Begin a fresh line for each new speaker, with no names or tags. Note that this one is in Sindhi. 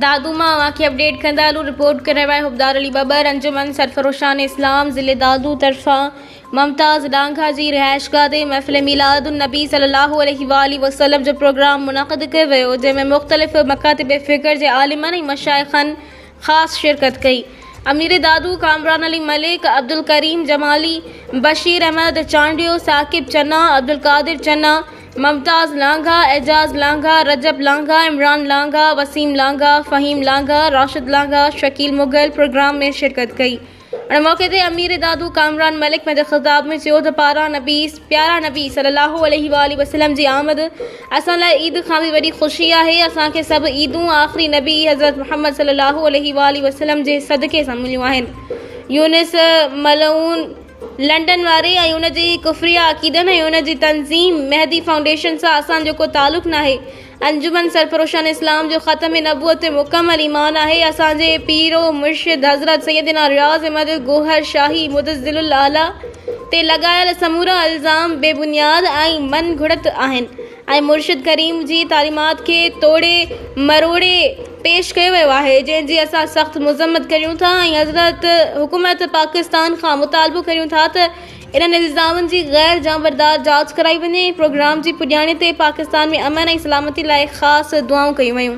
دادو مان اوهان کي اپڊيٽ ڪندا هلون رپورٽ ڪرڻ واري حبدار علي ٻٻر انجمن سرفروشان اسلام ضلعي دادو طرفان ممتاز ڏانگا جي رهائشگاهه تي محفل ميلاد النبي صلي الله عليه واٰله وسلم جو پروگرام منعقد ڪيو ويو جنهن ۾ مختلف مڪاتب فڪر جي عالمن ۽ مشائخن خاص شرڪت ڪئي. امير دادو، ڪامران علي ملڪ، عبدالڪريم جمالي، بشير احمد چانڊيو، ثاقب چنا، عبدالقادر چنا، ممتاز لانگاھ، اعجاز لانگاھ، رجب لانگاھ، عمران لانگاھ، وسيم لانگاھ، فهيم لانگاھ، راشد لانگاھ، شڪيل مغل پروگرام ۾ شرڪت ڪئي. ان موقعي تي امير دادو ڪامران ملڪ پنهنجي خطاب ۾ چيو ته پاران نبي پيارا نبي صلي الله عليه واٰله وسلم جي آمد اسان لاء عيد کان به وڏي خوشي آهي، اسان کي سڀ عيدون آخري نبي حضرت محمد صلي الله عليه واٰله وسلم جي صدقي سان مليون آهن. يونس ملعون لنڊن واري ۽ ان جي ڪفريه عقيدن ۽ ان جي تنظيم مهدي فائونڊيشن سان اسان جو ڪو تعلق ناهي، انجمن سرفروشان اسلام جو ختم نبوت تي مڪمل ايمان آهي اسان جي پير و مرشد حضرت سيدنا رياض احمد گوهر شاهي مدظل الاعليٰ تي لڳايل سمورا الزام بي بنياد ۽ من گهڙت آهن ۽ مرشد ڪريم جي تعليمات کي ٽوڙي مروڙي پيش ڪيو ويو آهي جنهن جي اسان سخت مذمت ڪريون ٿا ۽ حضرت حڪومت پاڪستان کان مطالبو ڪريون ٿا ته انهن الزامن جي غير جانبدار جاچ ڪرائي وڃي ۽ پروگرام جي پڄاڻي تي پاڪستان ۾ امن ۽ سلامتي لاء خاص دعائون ڪيون ويون.